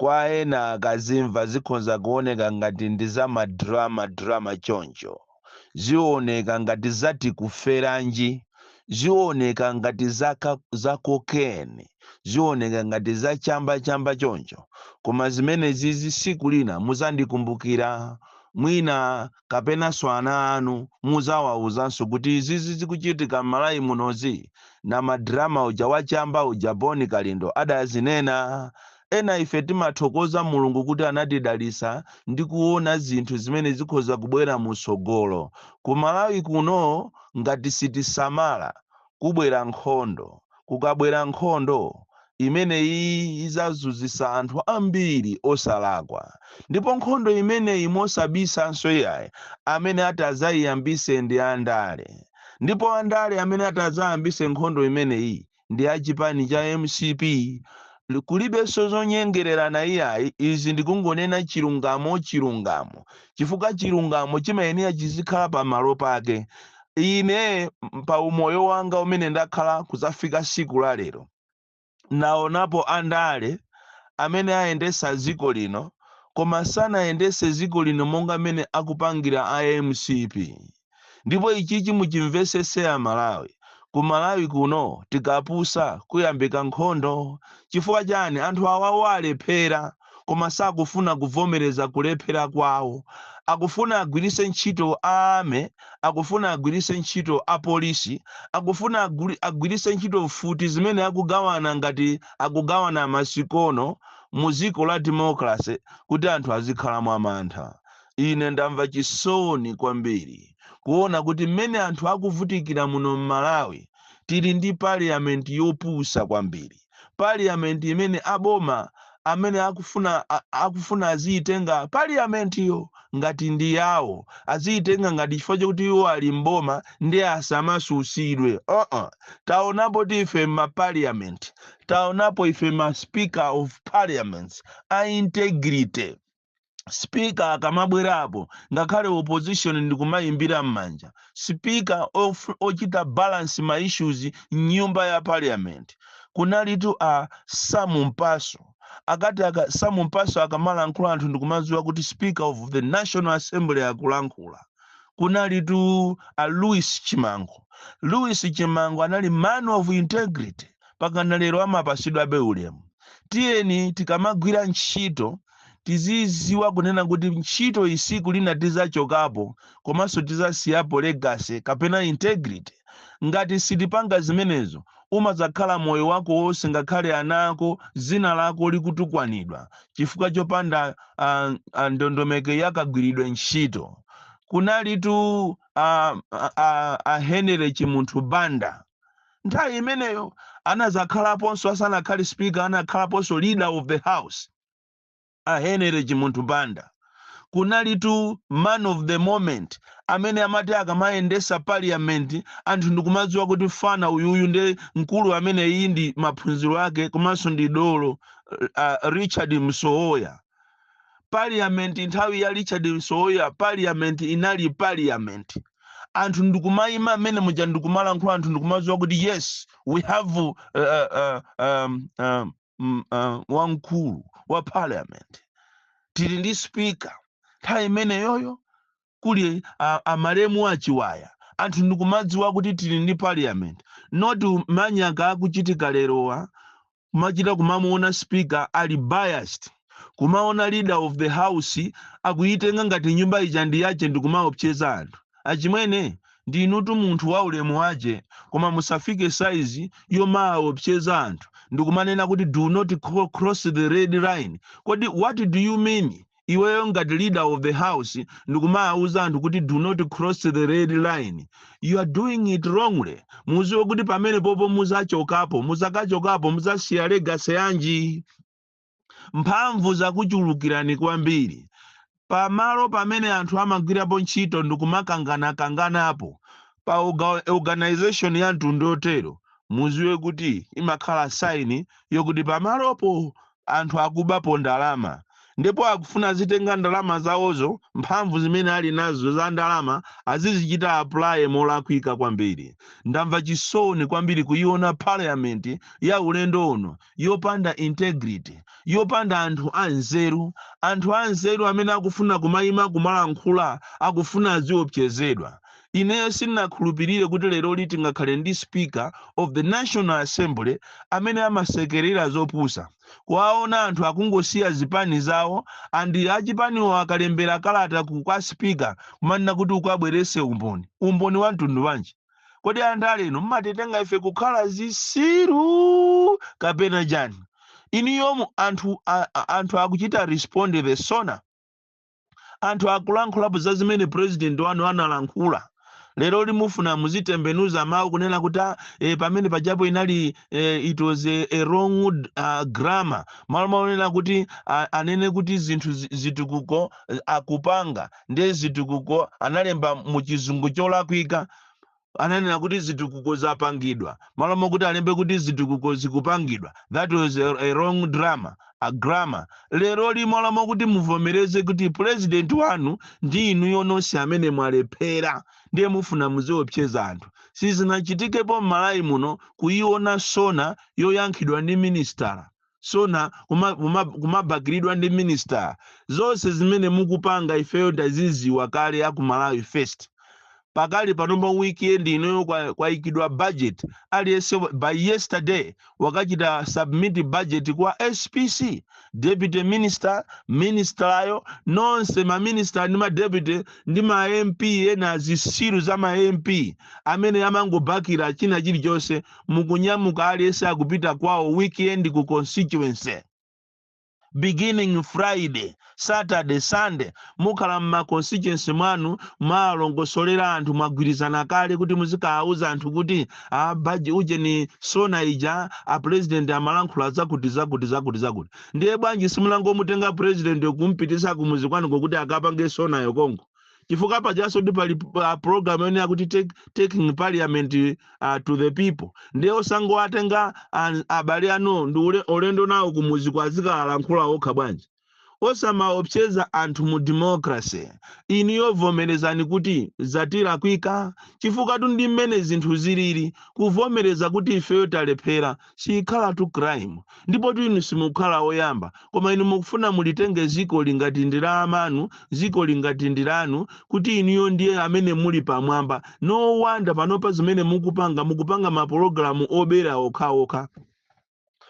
Kwa ena kazimva zikhonza kuoneka ngati ndi za ma drama drama choncho. Zioneka ngati za tikuferanji, zioneka ngati za za cocaine, zioneka ngati za chamba chamba choncho. Koma zimenezizi siku lina muzandikumbukira. Mwina. kapenanso ana anu muzawauzanso kuti izizi zikuchitika mmalawi munozi? Namadrama uja wa chamba uja Bon Kalindo adazinena? Ena ife timathokoza Mulungu kuti anatidalisa ndi kuona zinthu zimene zikhoza kubwera mutsogolo. Ku Malawi kuno ngati sitisamala kubwera nkhondo, kukabwera nkhondo imene iyi izazunzisa anthu ambiri osalakwa ndipo nkhondo imeneyi mosabisanso iyayi amene atazayiyambise ndi andale ndipo andale amene atazayambise nkhondo imeneyi ndi a chipani cha mcp kulibenso zonyengererana iyayi izi ndikungonena chilungamo chilungamo chifukwa chilungamo chimayenera chizikhala pa malo pake. Ine, pa umoyo wanga umene ndakhala kuzafika siku la lero, naonapo andale amene ayendesa dziko lino koma sanayendese dziko lino monga mene akupangira a mcp. ndipo ichichi muchimvesese amalawi ku malawi kuno tikapusa kuyambika nkhondo chifukwa chani anthu awawa alephera koma sakufuna kuvomereza kulephera kwawo akufuna agwirise ntchito a army akufuna agwirise ntchito a polisi akufuna aguli- agwirise ntchito mfuti zimene akugawana ngati akugawana masikono mu dziko la democracy kuti anthu azikhala mwamantha Ine ndamva chisoni kwambiri kuona kuti mmene anthu akuvutikira muno m'Malawi tili ndi parliament yopusa kwambiri, parliament imene a boma amene akufuna a, akufuna aziyitenga parliament yo ngati ndi yawo, aziyitenga ngati chifukwa chakuti iwo ali m'boma ndi asamasusidwe uh-uh. Taonapotu ife ma parliament, taonapo ife ma speaker of parliaments a integrity. speaker akamabwerapo ngakhale opposition ndikumayimbira m'manja speaker ochita balance ma issues mnyumba ya parliament kunalitu a sam mpasu akati aka, sam mpasu akamalankhula anthu ndikumadziwa kuti speaker of the national assembly akulankhula kunalitu a louis chimango louis chimango anali man of integrity pakana lero amapasidwabe ulemu tiyeni tikamagwira ntchito tiziziwa kunena kuti ntchito iyi tsiku lina tizachokapo komanso tizasiyapo legacy kapena integrity ngati sitipanga zimenezo umazakhala moyo wako wonse ngakhale ana ako dzina lako likutukwanidwa chifukwa chopanda ah, ah, ndondomeko yakagwiridwe ntchito kunalitu ah, ah, ah, ah, henry chimunthu banda nthawi imeneyo anazakhalaponso asanakhale speaker anakhalaponso leader of the house a Henery Chimunthu Banda. Kunalitu man of the moment amene amati akamayendesa parliament anthu ndikumadziwa kuti fana uyuyu nde mkulu amene iyi ndi maphunziro ake komanso ndi dolo uh, Richard Msowoya. Parliament nthawi ya Richard Msowoya parliament inali parliament anthu ndikumayima mmene muja ndikumalankhula anthu ndikumadziwa kuti yes we have uh, uh, um, um, mm, uh, wamkulu wa parliament tili ndi speaker nthawi imeneyoyo kuli a, a malemu achiwaya anthu ndikumadziwa kuti tili ndi parliament not manyaka akuchitika lerowa kumachita kumamuona speaker ali biased kumaona leader of the house akuyitenga ngati nyumba ija ndi yache ndikumaopseza anthu achimwene ndinutu munthu wa ulemu wache koma musafike saizi yomaopseza anthu ndikumanena kuti do not cro- cross the red line kodi what do you mean iweyo ngati leader of the house ndikumawuza anthu kuti do not cross the red line you are doing it wrongly muziwe kuti pamenepopo muzachokapo muzakachokapo muzasiya legacy yanji mphamvu zakuchulukirani kwambiri pamalo pamene anthu amagwirapo ntchito ndikumakanganakanganapo pa oga- organization ya mtundu wotero muziwe kuti imakhala saini yokuti pamalopo anthu akubapo ndalama ndipo akufuna azitenga ndalama zawozo mphamvu zimene ali nazo za ndalama azizichita apply molakwika kwambiri ndamva chisoni kwambiri kuyiona parliament ya ulendo uno yopanda integrity, yopanda anthu anzeru, anthu anzeru amene akufuna kumayima kumalankhula akufuna aziopsezedwa. Ineyo sindinakhulupirire kuti leroli tingakhale ndi speaker of the National Assembly amene amasekerera zopusa. Kuwaona anthu akungosiya zipani zawo and achipaniwo akalembera kalata ku kwa speaker kumanena kuti ukabwerese umboni. Umboni wamtundu wanji? kodi andale inu mmatitenga ife kukhala zisiru kapena chani inuyo mu anthu a, a, anthu akuchita respond ku sona anthu akulankhulapo za zimene president wanu analankhula leroli mufuna muzitembenuza mawu kunena kuti "Ah, eh, pamene pajapo inali eh, it was a, a wrong uh, grammar malo monena kuti ah, anene kuti zinthu zi- zitukuko eh, akupanga ndiye zitukuko analemba mu chizungu cholakwika ananena kuti zitukuko zapangidwa malo mokuti alembe kuti zitukuko zikupangidwa that was a, a wrong drama a grammar leroli malo mokuti muvomereze kuti president wanu ndi inuyo nonse amene mwalephera ndiye mufuna muziopseza anthu sizinachitikepo m'malawi muno kuiona sona yoyankhidwa ndi minister sona kuma- kuma- kumabakilidwa ndi minister zonse zimene mukupanga ifeyo taziziwa kale a ku malawi first pakali pano pa weekend inoyo kwa- kwayikidwa budget aliyense wa- by yesterday wakachita submit budget kwa spc deputy minister ministerayo nonse maminister ndi madeputy ndi ma mp ena zisiru za ma mp amene amangobakila china chilichonse mukunyamuka aliyense akupita kwawo weekend ku constituency beginning friday saturday sunday mukhala mma constituency mwanu mwalongosolera anthu mwagwirizana kale kuti muzikawauza anthu kuti a paja ujeni sona ija a president amalankhula zakuti zakuti zakuti zakuti ndiye bwanji simungomutenga president kumpitisa kumuzi kwanuko kuti akapange sonayo konko chifukwa pajaso ndi pali uh, program yonena kuti take, taking parliament uh, to the people ndiye osangowatenga an- abale anu ndi ule- ulendo nawo kumuzi kuti azikalankhula okha bwanji osamaopseza anthu mu democracy inuyo vomerezani kuti zatilakwikira chifukwatu ndi mmene zinthu zilili kuvomereza kuti ifeyo talephera siyikhalatu crime ndipotu inu simukhala oyamba koma inu mukufuna mulitenge zikoli ngati ndi la amanu zikoli ngati ndi lanu kuti inuyo ndiye amene muli pamwamba no wonder panopa zimene mukupanga mukupanga mapologalamu obera okhaokha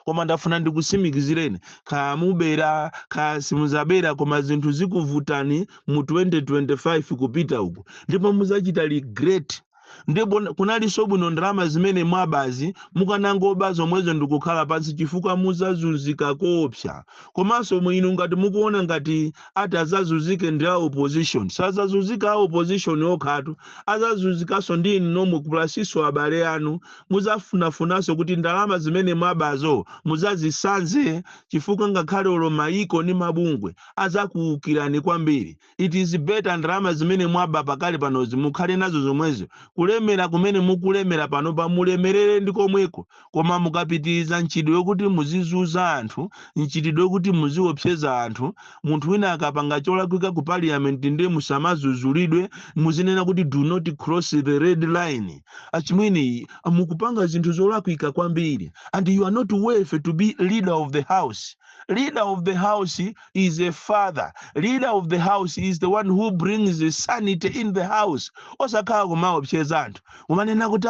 koma ndafuna ndikusimikizireni kaya mubera kaya simuzabera koma zinthu zikuvutani mu 2025 kupita uku ndipo muzachita regret Ndipo kunalinso bwino ndalama zimene mwabazi mukanangoba zomwezo ndikukhala pansi chifukwa muzazunzika koopsa. Komanso mu inu ngati mukuona ngati ati azazunzike ndi a opposition. Sazazunzika a opposition okhatu, azazunzikanso ndi inu nomwe kuphatikizanso abale anu. Muzafunafunanso kuti ndalama zimene mwabazo muzazisanze chifukwa ngakhale olo mayiko ndi mabungwe azakuukirani kwambiri. It is better ndalama zimene mwaba pakali panozi mukhale nazo zomwezo, kulemera kumene mukulemera panopa mulemerere ndi komweko, koma mukapitiriza mchitidwe wokuti muzizunza anthu, mchitidwe wokuti muziopseza anthu, munthu wina akapanga cholakwika ku parliament ndiye musamadzudzulidwe, muzinena kuti do not cross the red line. Achimwene mukupanga zinthu zolakwika kwambiri and you are not worth to be leader of the house. Leader of the house. is a father leader of the house is the one who brings the sanity in the house osakhala kumaopseza anthu kumanena kuti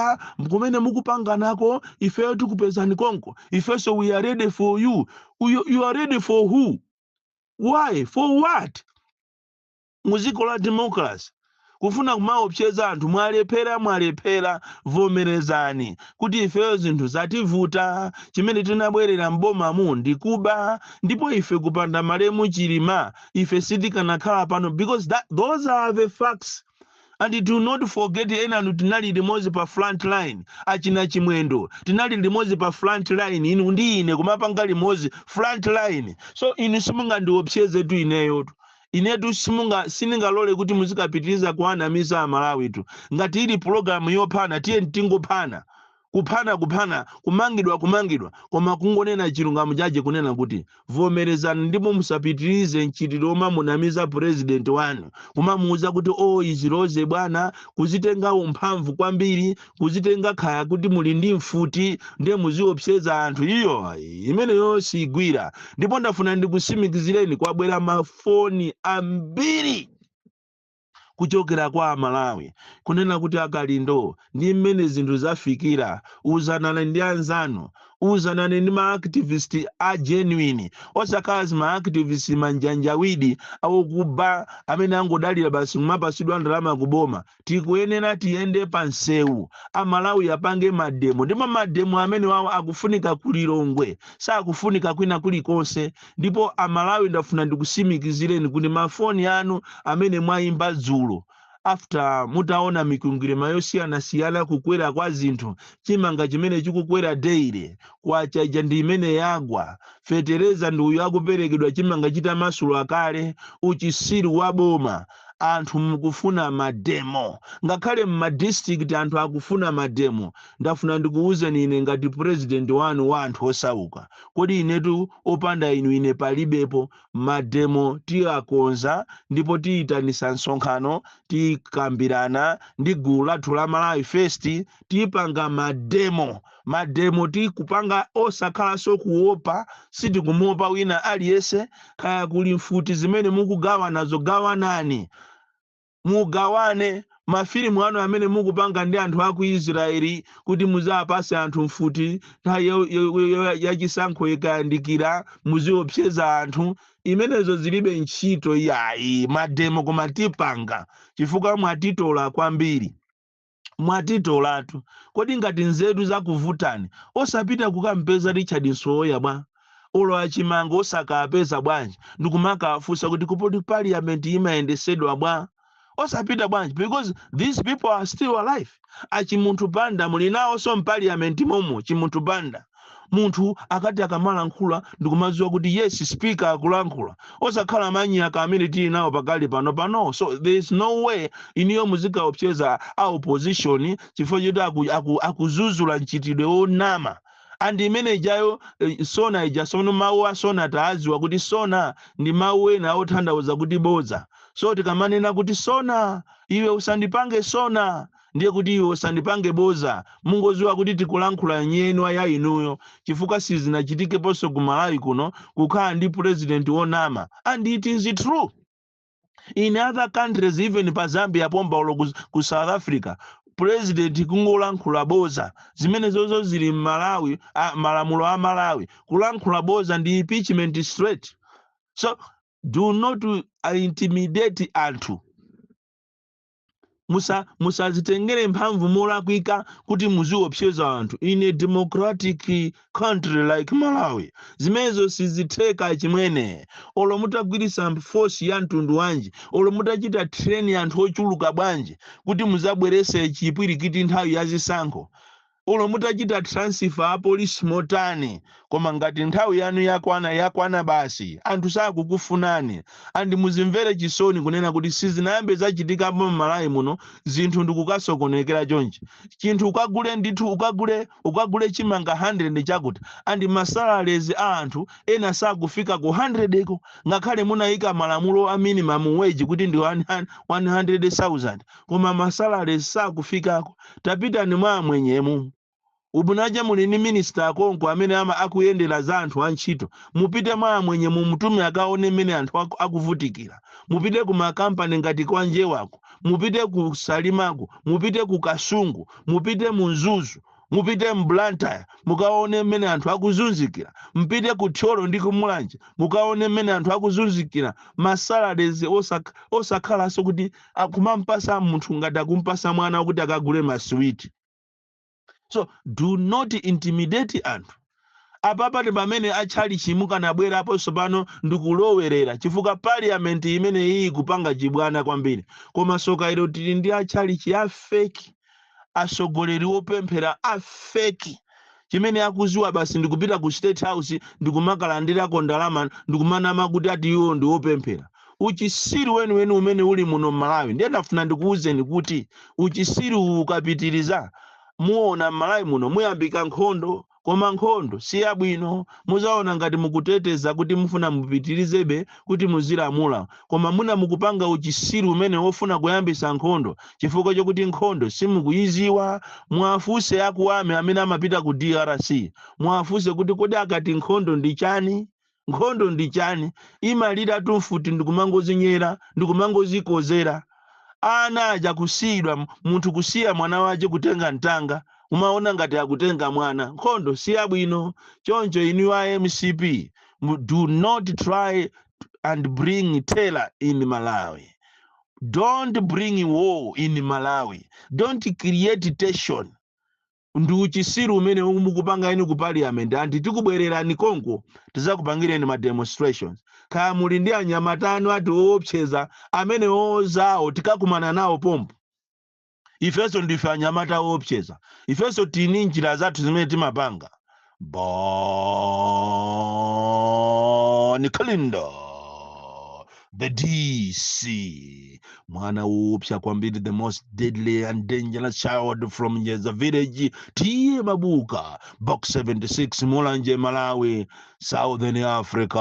kumene mukupanganako ifeyo tikupezani konko ifenso we are ready for you, you are ready for who why for what Mu dziko la democracy kufuna kumaopseza anthu mwalephera mwalephera vomerezani kuti ifeyo zinthu zativuta chimene tinabwerera m'bomamu ndi kuba ndipo ife kupanda malemu Chilima ife sitikanakhala pano because those are the facts and do not forget enanu tinali limodzi pa front line achina Chimwendo tinali limodzi pa front line inu ndi ine kumapanga limodzi front line so inu simungandiopsezetu ineyotu Inetu simunga sindingalole kuti muzikapitiriza kuwanamiza Amalawitu. Ngati ili pulogalamu yophana tiyeni tingophana. Kuphana kuphana, kumangidwa kumangidwa, koma kungonena chilungamo chake kunena kuti vomerezani ndipo musapitirize mchitidwe womamunamiza pulezidenti wanu, kumamuuza kuti oo iziroze bwana, kuzitenga amphamvu kwambiri, kuzitenga kaya kuti muli ndi mfuti ndiye muziopseza anthu iyo imeneyo sigwira ndipo ndafuna ndikusimikizireni kwabwera mafoni ambiri kuchokera kwa amalawi kunena kuti a Kalindo ndi mmene zinthu zafikira uzanani ndi anzanu uzanani ndi maactivist a genuine osakhala zimaactivist manjanjawidi awokuba amene akungodalira basi kumapatsidwa ndalama kuboma tikuyenera tiyende pa msewu amalawi apange mademo ndipo mademo amenewawo akufunika ku lilongwe sakufunika kwina kulikonse ndipo amalawi ndafuna ndikusimikizireni kuti mafoni anu amene mwayimba dzulo after mutaona mikwingwirima yosiyanasiyana kukwera kwa zinthu chimanga chimene chikukwera daily kwacha ija ndi imene yagwa fetereza ndi uyu akuperekedwa chimanga chitamasula kale uchitsiru wa boma anthu mukufuna ma demo ngakhale mma district anthu akufuna ma demo ndafuna ndikuwuzeni ine ngati president wanu wa anthu osauka kodi inetu opanda inu ine palibepo ma demo tiyakonza ndipo tiyitanitsa msonkhano tikambirana ndi gulu lathu la malawi first tipanga ma demo mademo tikupanga osakhalanso kuopa sitikumuopa wina aliyese kaya kuli mfuti zimene mukugawanazo gawanani mugawane mafilimu anu amene mukupanga ndi anthu aku israeli kuti muzawapase anthu mfuti nthawi yo- yo- yo- yo- yachisankho ikayandikira muziopseza anthu imenezo zilibe ntchito iyayi mademo koma tipanga chifukwa mwatitola kwambiri Mwatitolatu. Kodi ngati nzeru zakuvutani, osapita kukampeza Richard Msowoya bwa? Olo a Chimanga osakaapeza bwanji ndikumakaafunsa kuti kodi parliament imayendesedwa bwa? Osapita bwanji because these people are still alive. A Chimunthu Banda muli naonso mparliament momo, Chimunthu Banda. munthu akati akamalankhula ndikumadziwa kuti yes speaker akulankhula osakhala manyaka amene tili nawo pakali panopano so there is no way iniyo muzikaopseza a opposition chifukwa choti aku, aku, akuzuzula mchitidwe wonama andi imene ijayo eh, sona ija sono mawu a sona taadziwa kuti sona ndi mawu ena othandauza kuti bodza so tikamanena kuti sona iwe usandipange sona ndiye kuti iwe usandipange boza mungoziwa kuti tikulankhula nyenwa ya inuyo chifukwa sizinachitikeponso ku malawi kuno kukhala ndi president wonama and it is true in other countries even pa zambia pompa olo ku, ku south africa president kungolankhula boza zimenezozo zili mmalawi a, malamulo a malawi kulankhula boza ndi impeachment straight so do not uh, intimidate anthu musa musazitengere mphamvu molakwika kuti muziopseza anthu in a democratic country like malawi zimenezo sizitheka chimwene olo mutagwiritsa force ya mtundu wanji olo mutachita train anthu ochuluka bwanji kuti muzabwerese chipwirikiti nthawi ya zisankho olo mutachita transfer a police motani koma ngati nthawi yanu yakwana yakwana basi anthu sakukufunani andi muzimvere chisoni kunena kuti sizinayambe zachitikapo mmalawi muno zinthu ndikukasokonekera chonchi chinthu ukagule ndithu ukagule ukagule chimanga 100 chakuti andi masalaries a anthu ena sakufika ku 100 ko ngakhale munayika malamulo a minimum wage kuti ndi 100,000 koma ma salaries sakufikako tapitani mwa amwenyemu ubwinaja muli ndi minister akonko amene ama akuyendera za anthu antchito mupite mwa amwenye mumutume akaone mmene anthu aku- akuvutikira mupite ku makampani ngati kwa njewako mupite ku salimako mupite ku kasungu mupite mu mzuzu mupite mu blantyre mukaone mmene anthu akuzunzikira mpite ku thyolo ndi kumulanje mukaone mmene anthu akuzunzikira masalaries osakhalanso kuti akumampasa munthu ngati akumpasa mwana kuti akagule maswiti so do not intimidate anthu apapa ndi pamene atchalichi mukanabwerapo tsopano ndikulowerera chifukwa parliament imene iyi ikupanga chibwana kwambiri koma soka ilo tili ndi atchalichi a fake atsogoleri opemphera a fake chimene akuziwa basi ndikupita ku state house ndikumakalandirako ndalama ndikumanama kuti ati iwo ndi opemphera uchisiru weniweni umene uli muno mmalawi ndiye ndafuna ndikuwuzeni kuti uchisiru uwu ukapitiriza muona mmalawi muno muyambika nkhondo Koma nkhondo siyabwino. Muzaona ngati mukuteteza kuti mufuna mupitirizebe kuti muzilamula koma mwina mukupanga uchisiru umene wofuna kuyambisa nkhondo chifukwa chokuti nkhondo simukuyiziwa. Muwafunse aku army amene amapita ku drc muwafunse kuti kodi akati nkhondo ndichani? nkhondo ndi chani imaliratu mfuti ndikumangozinyera ndikumangozikozera ana aja kusiyidwa m- munthu kusiya mwana wace kutenga mtanga kumaona ngati akutenga mwana nkhondo si yabwino choncho inu a mcp mu- do not try and bring terror in malawi don't bring war in malawi don't create tension ndi uchisiru umene mukupanga inu ku parliament and tikubwererani konko tizakupangireni ma demonstrations kaya muli ndi anyamata anu ati oopseza amenewo zawo tikakumana nawo pompo ifenso ndife anyamata oopseza ifenso tili ndi njira zathu zimene timapanga Bon Kalindo the DC mwana upya kwambiri the most deadly and dangerous child from Nyeza village tiye mabuka box 76 Mulanje Malawi Southern Africa